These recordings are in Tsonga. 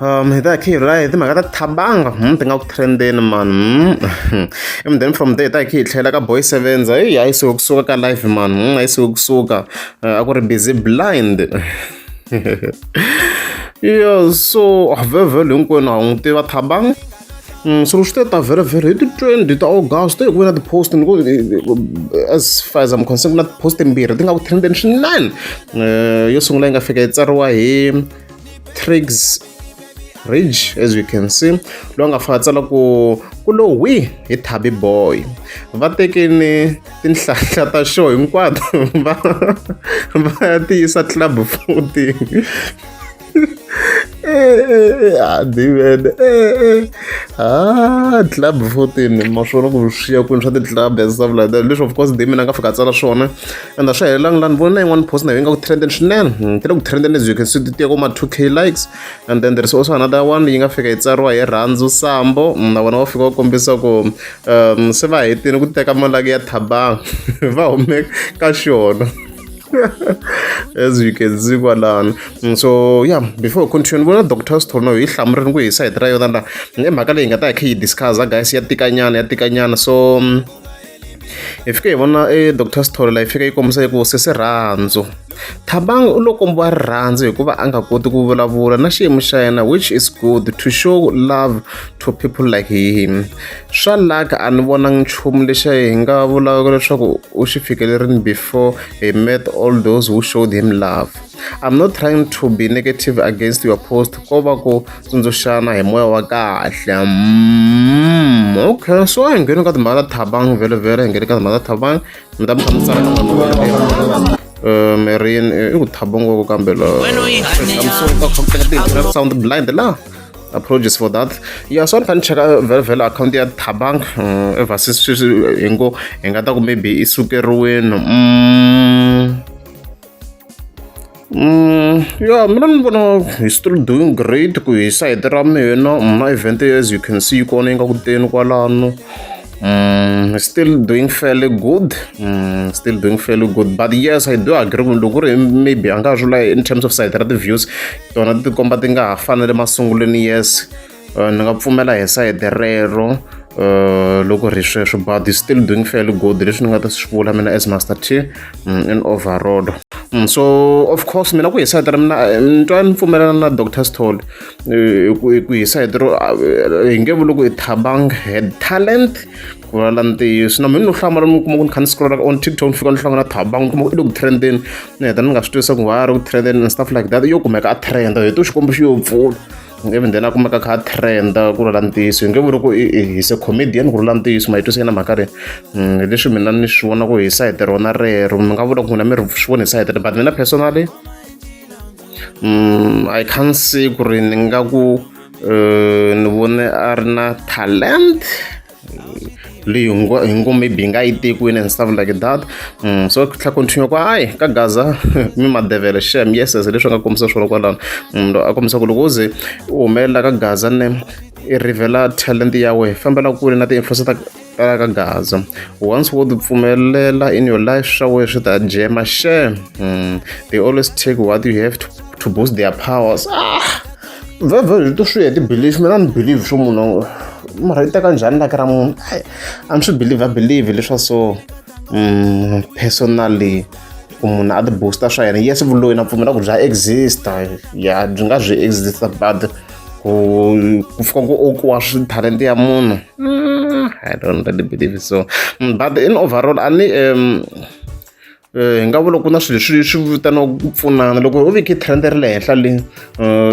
um hi ta hi kha hi rhula hi timhaka ta thabanga hmm, ti nga ku trendeni man hmm. and then from there hi ta hi kha hi tlhela ka boy sevens hayi hayi suke kusuka ka live man hmm, hayi suke kusuka uh, a ku ri busy blind yo so vhevhelo hinkwenu a wu n'wi tiva thabanga so swi ta ta very very hi ti twenty ta august hi ku ve na ti-post ni ku as far as i'm concerned ku na ti-post timbirhi ti nga ku trendeni swinene eh, yo sungula yi nga fika yi tsariwa hi tricks ridge as you can see loyi nga faka tsala ku ku lo wi hi thabi boy va tekini tinhlahla ta show hinkwato va va ya ti yisa club futi adivene eh, eh, eh, a ah, club fourteen ma swona ku swi ya kwini swa ti-club and stuff like that leswi of course dami na nga fika a tsala swona and a swi helelangi laha ni voni na yin'wana post na yo yi nga ku trenden swinene hmm, ti le ku trenden as you can see ti tiya kuma 2 k likes and then there is also another one yi nga fika yi tsariwa hi rhandzu sambo hmm, na vona va fika va kombisa ku um se va hetini ku teka malaki ya thabanga va hume ka xona as you can see kwalani mm, so yeah before we continue vona doctor sithorno hi hlamurini ku hi sayiti ra yona la i mhaka leyi nga ta hi kha yi discussa guys ya tikanyana ya tikanyana so mm, hi fike hi vona e doctor sithole la yi fika yi kombisa yi ku sesi rhandzu thabangi u lo kombiwa rirhandzu hikuva a nga koti ku vulavula na xiyimo xa yena which is good to show love to people like him swa laka a ni vona nchumu lexi hi nga vulaka leswaku u xi fikelerini before he met all those who showed him love I'm not trying to be negative against your post ko va ku tsundzuxana hi moya wa kahle mm, okay so hi ngheni ka timhaka ta thabang vele vele hi ngheni ka timhaka ta thabang mi ta mi hlamusela ka mhaka eh, mirin eh, i ku thaba ngoko kambe loamusonga sound blind la apologies for that ya so ni fanele cheka eh, vele vele akhawunti ya thabang ever since sweswi hi ngo hi nga ta ku maybe i sukeriweni mm. Mm, yeah, mina ni vona hi still doing great ku hi side ra mina na mm, event as you can see kona yi nga ku teni kwalano mm, still doing fairly good mm, still doing fairly good but yes i do agree ku loko ri maybe a nga ha in terms of side ra ti-views tona ti komba ti nga ha fanele masungulweni yes ni nga pfumela hi sayiti rero Eh, loko ri sweswo but is still doing fairly good leswi ni nga ta swi vula mina as master t mm, in overall mm, so of course mina ku hi sayiti ra mina eh, ni twa ni pfumelana na dr stol eh, ku hi sayiti ro hi nge vuli ku i thabang head talent ku vulavula ntiyiso na mina no hlamala mi kuma ku ni kha ni scrolla on tiktok ni fika ni hlangana thabang kuma ku i le ku trendeni ni heta ni nga swi twisisa ku why a ri ku trendeni and stuff like that yo kumeka a trenda hi to xikombo xi yo pfula even then a kumeka kha a trenda ku lula ntiyiso hi nge vuri ku hise comedian ku lula ntiyiso ma yi twisi yena mhaka ri mm, hi leswi mina ni swi vona ku hi sayite rona rero mi nga vula ku n'wina mi ri swi vona hi sayite but mina personally um i can't see ku ri ni nga ku eh, ni vone a ri na talent leyi hi ngo maybe yi nga yi tekiwini and stuff like that mm, so tlha continue ku hayi ka gaza mi madevele shem yes as leswi nga kombisa swona kwalano mm, a kombisa ku loko u ze u humelela ka gaza ne i rivela talent ya wena fambela kule na ti-influence ta tala ka gaza once wo ti pfumelela in your life swa wena swi ta jema shem mm, they always take what you have to, to boost their powers ah! vhevhe ri to swi ya ti-belief mina ni believe swo munhu mara yi teka njhani laki ra munhu ai a ni swi believe a believe leswa so um personally ku munhu a ti-booster swa yena yes vuloyi na pfumela ku bya exista ya byi nga byi exista but ku ku fika ku okiwa talenta ya munhu mm, i don't really believe so mm, but in overall a ni um hi nga vula ku na swilo leswi swi vitaniwaka ku pfunana loko u veke trend ri le henhla le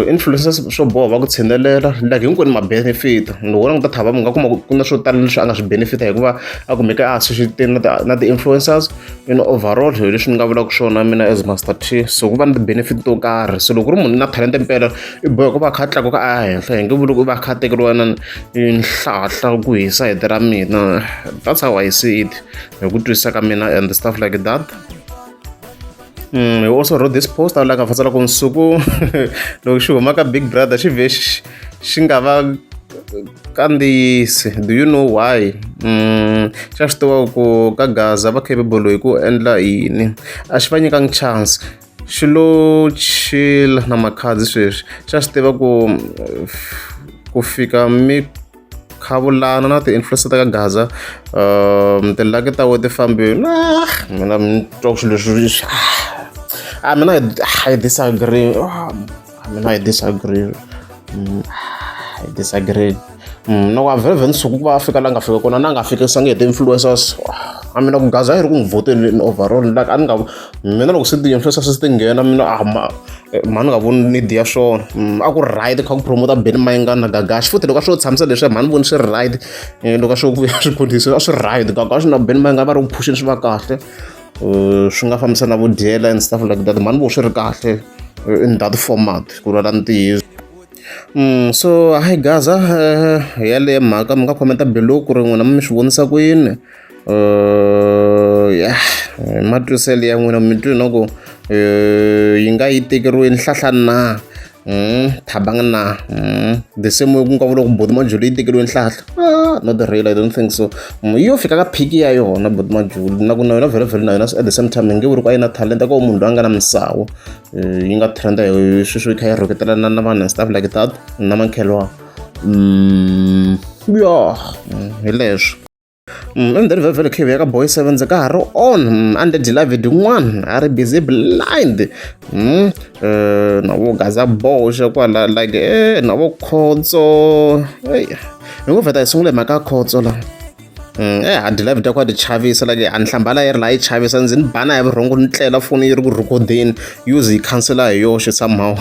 influencers swo boha va ku tshinelela like hinkwenu ma-benefit loko languta thava mi nga kuma ku na swo tala leswi a nga swi benefita hikuva a kumeka a associate na na ti-influencers in overall hi leswi ni nga vulaka swona mina as master t so ku va ni ti-benefit to karhi so loko ri munhu na talenta mpela i boha ku va kha tlakuka a ya henhla hi nge vuli ku va kha tekeriwa na nhlahla ku hisa hete ra mina that's how i see it hi ku twisisa ka mina and stuff like that Mm, you also wrote this post awu laka fatsala ku nsuku loko xi huma ka big brother xi vhe xi nga va kandziyisi do you know why mm, xa swi tiva ku ka gaza va capable hi ku endla yini a xi va nyikangi chance xi lo chila na makhadzi sweswi xa swi tiva ku ku fika mi khavulana na ti-influencer ta ka gaza um tilaki ta we ti fambile na mina mi twa ku swilo leswi a mina hi disagree I mean, I disagree. Mm, I disagree. Mm, no, I've even so kuba Africa langa fika kona na nga fika sange the influencers. I mean, ku gaza iri ku vote in overall like an nga mina loko se the influencers ti nghena mina ah ma eh, mani nga voni need ya swona mm, a ku right kha ku promoter Benny Mayengani na Gagashi futhi loko a swo tshamisa leswi mani voni swi right eh, loko a swo vuya swiphundhisi a swi right Gagashi na Benny Mayengani va ri ku phusheni swi va kahle uh, swi nga fambisa na vudyela and stuff like that mhani vo swi ri kahle uh, in that format ku lwala ntiyiso Mm, so hi gaza uh, yaleyo mhaka mi nga khomenta below ku ri n'wina mi swi vonisa ku yini uh, yeah matwiselo ya n'wina mi twi no ku uh, yi nga yi tekeriwi nhlahla na Mm, thabanga na mm, the same way ku nga vula ku boti majulu yi tekeriwe nhlahla ah, not the real i don't think so mm, yo fika ka phiki ya yona boti majulu na ku na yona vhele vhele na yona at the same time yi nge vuri ku a yi na talent a ko munhu loyi a nga na misawu eh, yi nga trenda hi sweswo yi kha yi rhuketelana na vanhu and stuff like that na mankhelwa mm, yo hi leswo Mm, endzeni vhevhele khivi ya ka boy sevens ka ha ri on mm, under dilavid n'wana a ri busy blind mm, eh, na vo gaza boxe kwala like e na vo khotso hi ngo vheta hi sungule mhaka ya khotso la e ha dilavid ya ku a ti chavisa like a ni hlambala yi ri laha yi chavisa ndzi ni bana hi vurhongo ni tlela foni yi ri ku rhikodeni use yi khansela hi yoxe somehow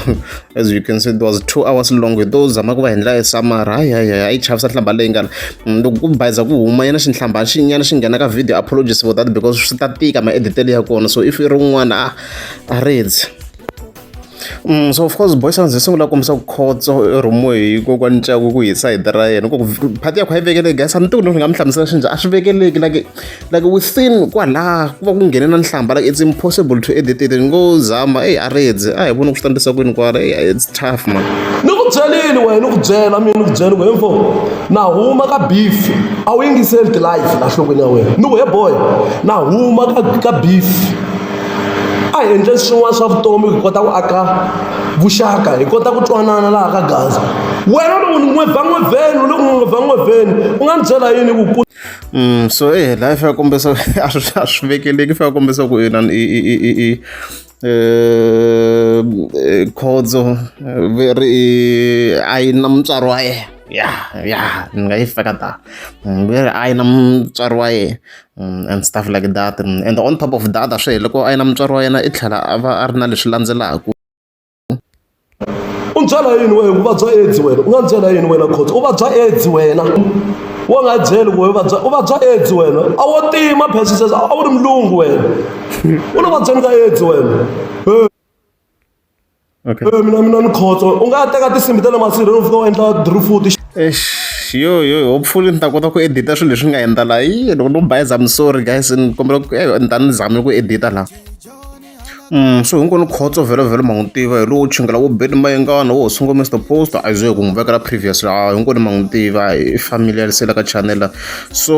as you can see it was two hours long hi to zama ku va hi ndlela ya samara hayi hayi hayi yi chavisa nhlamba leyi ngana mm, loko ku bayiza ku huma yena xinhlamba xinyana xi nghena ka video apologies for that because swi ta tika maeditele ya kona so if i ri un'wana a a redzi Mm, so of course boy sounds hi sungula kombisa ku khotso romo hi ko kwa ncaku ku hi side ra yena ku phati ya kho yi vekele guys a ni tiku ni nga mi hlamusela xinja a swi vekeleki like like within kwalaha ku va ku nghene na nhlamba like it's impossible to edit it ni ngo zama eyi a redze a hi voni ku swi tandisa kwini kwala eyi it's tough man ni ku byelile wena ni ku byela mina ni ku byela ku hemfo na huma ka beef a wu yingiseli tilife la nhlokweni ya wena ni ku he boy na huma ka, ka beef a hi endle swin'wana swa vutomi hi kota ku aka vuxaka hi kota ku twanana laha ka gaza wena loko ni n'we va n'we vheni u le ku n'we va n'we vheni u nga ni byela yini ku Mm, so e eh, life ya kombisa a swi a swi vekeleki fa ya kombisa ku ina i i i i eh, eh khodzo eh, ri a yi na mutswari wa yena ya ya ni nga yi feka ta mm, ve ri a yi na mutswari wa yena mm, and stuff like that and on top of that a swi hele loko a yi na mutswari wa yena i tlhela a va a ri na leswi landzelaka u ndzi byela yini wena u vabya aids wena u nga ndzi byela yini wena khotsa u vabya aids wena wo nga byeli ku u vabya u vabya aids wena a wo tima phesisesa a wu ri mulungu wena u lo vabyeni ka aids wena Okay. Eh, mina mina ni khotsa u nga teka tinsimbi ta le masirheni u fika u endla drifuti Eish, yo yo hopefully ni ta kota ku edita swilo leswi nga endla laha Ih, loko no bayiza I'm sorry guys ni kombela ku eh, ni ta ni zame ku edita laha so hinkwenu khotso vhele vhele ma n'wi tiva hi lowo chingela wo beni mayengana wo sungula Mister Post a ze ku n'wi vekela previous laha hinkwenu ma n'wi tiva hi familiar se la ka channel so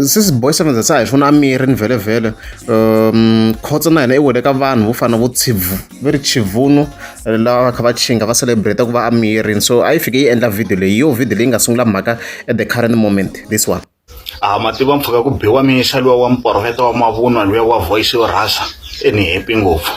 sisi boy seven se hi funa miri ni vhele vhele um khotso na hina i wele ka vanhu vo fana vo tshivu ve ri chivunu lava va kha va chinga va celebrate ku va amirini so a yi fike yi endla video leyi yo video leyi nga sungula mhaka at the current moment this one a ma tiva mpfhuka ku biwa mixo luwa wa muporofeta wa mavunwa luya wa voice yo rhasa e ni happy ngopfu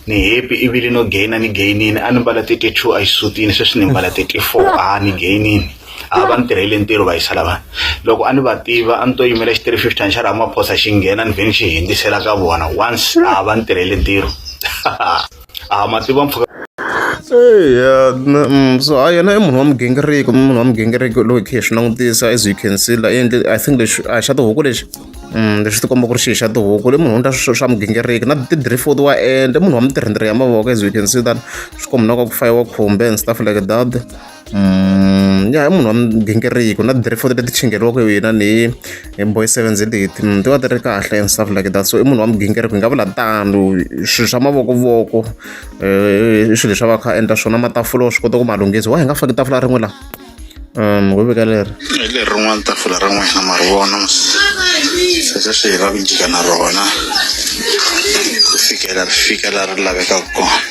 ni happy i vile no gainer ni gainini a ni mbala thirty two a yi sutini sweswi ni mbala thirty four a ni gainini a va ni tirhele ntirho va yisa lavana loko a ni va tiva a ni to yimela xi three fifty xa ramaphosa xi nghena ni vhe ni xi hindzisela ka vona once a va ni tirhele ntirho a ma tiva mpfhuka eya na- mm, so a yena i munhu wa migingiriko i munhu wa migingiriko loyi hi khe hi swi langutisa as you can see la i endle i think lexi a hi xa tihuku lexi Mm, lexi ti komba ku ri xihi xa tihuku le munhu u ndla swi- swa migingiriko na tidrifod wa endla i munhu wa mitirhindiri ya mavoko as you can see that swi kombinaka ku fayiwa khumbe and stuff like that ya hi munhu wa migingiriko na ti-report leti chingeriwaka hi yena ni hi boy seven z leti ti va ti ri kahle and stuff like that so i munhu wa migingiriko hi nga vula tano swilo swa mavokuvoko i swilo leswi a va kha endla swona matafula wa swi kota ku ma lunghisa wa hi nga faki tafula rin'we laha um ho veka leri leri rin'wana tafula ra n'wina ma ri vona sweswo swi hi va ku jika na rona ku fikela ri fika laha ri lavekaka kona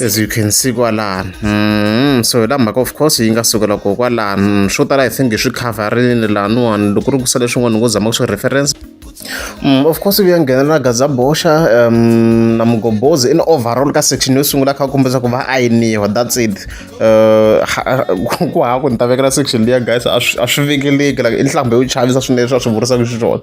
as you can see kwalani mm, so hi la mhaka of course yi nga sukela ko kwalani swo tala i think hi swi coverini laniwani loko ri kusa leswin'wana ni ngo zama ku swi reference Mm, of course ku ya nghenelela gazabosha um, na mugobozi in overall ka section yo sungula kha kombisa ku va ayiniwa that's it uh, ku ha ku ni ta vekela section leya guys a swi vekeleki like i nhlambhe yo chavisa swinene swa swi vurisaka xiswona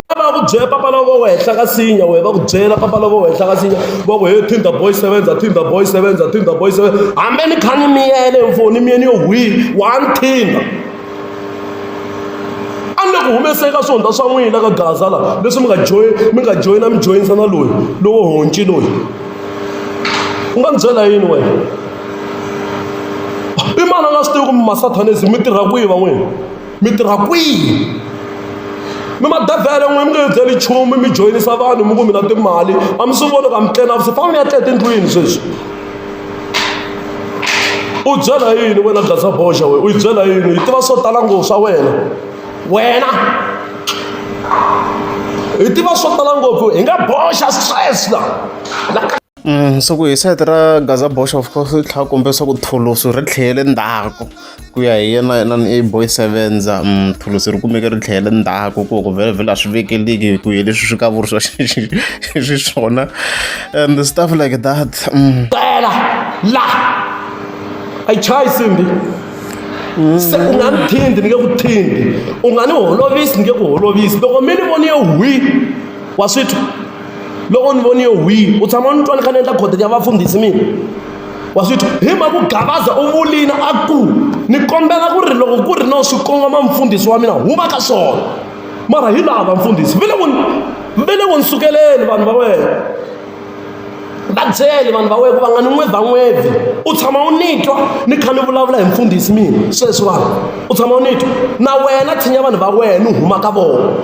va ku byela papa lava va henhla ka sinya wehe va ku byela papa lava va henhla ka sinya va ku he tinder boy sevenza tinder boy sevenza tinder boy sevenza hambi ni kha ni miyele mfoni miyeni yo hwini one tinder a ni le ku humeseni ka swihundla swa n'wina ka gaza la leswi mi nga joyi mi nga joyina mi joyinisa na loyi lowo honci loyi u nga ni byela yini wena i mani a nga swi tivi ku mi masatanisi mi tirha kwihi van'wini mi tirha kwihi mi madavhele n'we mi nga hi byeli nchumu mi joyinisa vanhu mi ku mina timali a mi swi voni ka mi tlena vusi famba mi ya tleta endlwini sweswi u byela yini wena dlatsa boxa wena u yi byela yini yi tiva swo tala ngopfu swa wena wena hi tiva swo tala ngopfu hi nga boxa stress la so ku hi site ra gaza bosh of course ri tlhela kombe leswaku thulusu ri tlhele ndzhaku ku ya hi yena yena ni boy sevenza mm, thulusu ri kumeke ri tlhele ndzhaku ku ku vhele vhele a swi vekeliki hi ku hi leswi swi kavuriwa xiswona and stuff like that mm. tela la a yi chayi simbi se u nga ni thindi ni nge ku thindi u nga ni holovisi ni nge ku holovisi loko mi ni voniye hwi wa swi twa loko ni voniyo hwini u tshama ni twa ni kha ni endla khoteni ya vafundhisi mina wa swi twa hi mhaku gabaza u vulini a ku ni kombela ku ri loko ku ri no swi kongoma mfundhisi wa mina huma ka swona mara hi lava mfundhisi ve le ku ve le ku ni sukeleni vanhu va wena va byele vanhu va wena ku va nga ni n'wevha n'wevhi u tshama u ni twa ni kha ni vulavula hi mfundhisi mina sweswi vanhu u tshama u ni twa na wena tshinya vanhu va wena ni huma ka vona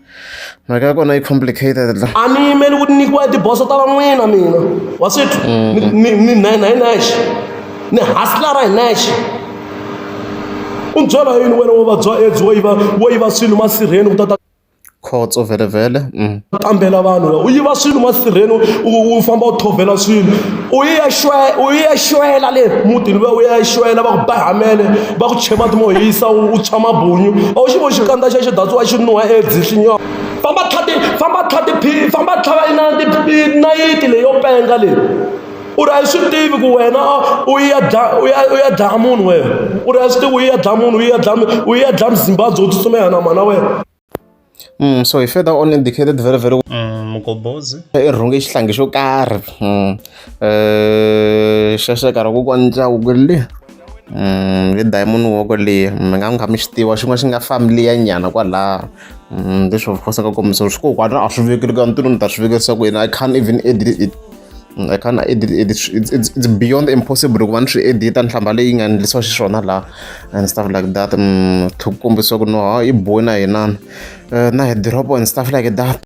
mhaka ya kona yi complicated la a ni yimeli ku nyikiwa tiboso ta van'wina mina waswithu mm-hmm. ni ni nine hi nexe ni haslara hi nexe u byela yini wena wo vabya edzi wo yiva wo yiva swilo masirheni ku tata khotso vhele vhele mm. kambela vanhu u yiva swilo masirheni u famba u thovhela swilo u yi ya xwe u yi ya xwela le mutini luya u ya xwela va ku bahamele va ku chhe mati mo hisa u tshwa mabunyu a wu xi vo xikandza xa xi datsiwa xi nuha edzi xi nyoka famba tlhati famba tlhati phi famba tlhava nayiti leyi yo penga leyi u ri a yi swi tivi ku wena u ya u ya u ya dlaya munhu wena u ri a swi tivi u ya dlaya munhu u ya dlaya u ya dlaya muzimbabwe u tsutsumela na mana wena Mm, so he further on indicated very very well mm, mugobozi irhunge xihlangi xo karhi mm, eh, xexeka ra ku kwanca huku le mm, le diamond woko leyi mi nga nga mi xi tiva xin'wana xi nga familiya nyana kwalaha leswi of course nga kombisa swi kokwani a swi vekeli ka ntirho ni ta swi vekerisa ku yena i can't even edit it Mm, I can't edit it. It's, it's, it's beyond impossible ku va ni swi edita nhlamba leyi nga endlisiwa xiswona laha and stuff like that mm, ku kombisa ku no ha i boy na yinana eh, na hi drop and stuff like that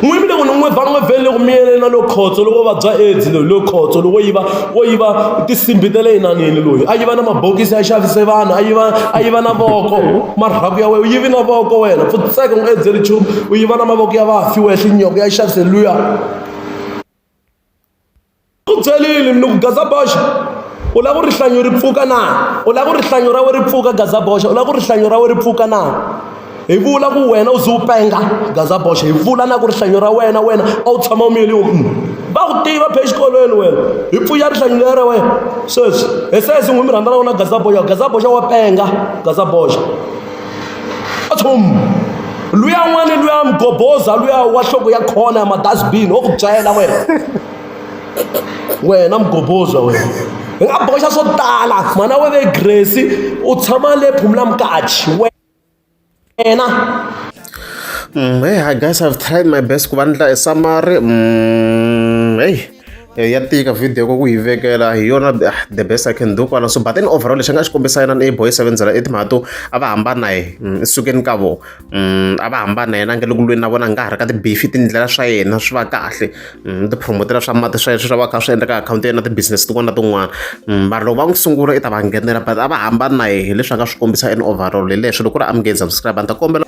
n'wini loko ni n'wi va n'wi vele ku miyelela lo khotso loko vabya aids loyi lo khotso loko yiva wo yiva tisimbi ta le yinanini loyi a yiva na mabokisi ya xavise vanhu a yiva a yiva na voko marhaku ya wena u yivi na voko wena pfutseka n'wi edzeli nchumu u yi vona mavoko ya vafi wehle nyoko ya xavise luya ku byelile ni ku gaza boxa u lava ku rihlanyo ri pfuka na u lava ku rihlanyo ra we ri pfuka gaza boxa u lava ku rihlanyo ra we ri pfuka na hi vula ku wena u ze u penga gaza boxa hi vula na ku rihlanyo ra wena wena a wu tshama u miyeli u va ku tiva phe exikolweni wena hi pfuya rihlanyo leri ra wena sweswi hi sesi n'wi mi rhandzana wona gaza boxa gaza boxa wa penga gaza boxa nchumu luya n'wana luya mgoboza luya wa nhloko ya khona ya madasbini wo ku byela wena wena mgoboza wena hi nga boxa swo tala mhana we ve grace u tshama le phumula mukachi wena mm, hey, i guess i've tried my best ku va ni dlayisa mari mm, hey Eya ya tika video ku yi vekela hi yona the best I can do kwala so but then overall lexi nga xi kombisa yena ni boy seven zela etimhaka to a va hambana hi mm, sukeni ka vo mm, a va hambana yena nge loko lweni na vona nga ha ri ka tibifi tindlela swa yena swi va kahle mm, tipromotela swa mati swa yena swi va kha swi endleka akhawunti ya yena ti-business tin'wana na tin'wana mara loko va n'wi sungula i ta va nghenela but a va hambana hi leswi a nga swi kombisa in overall hi leswi loko ku ri amukeni subscribe a ni ta kombela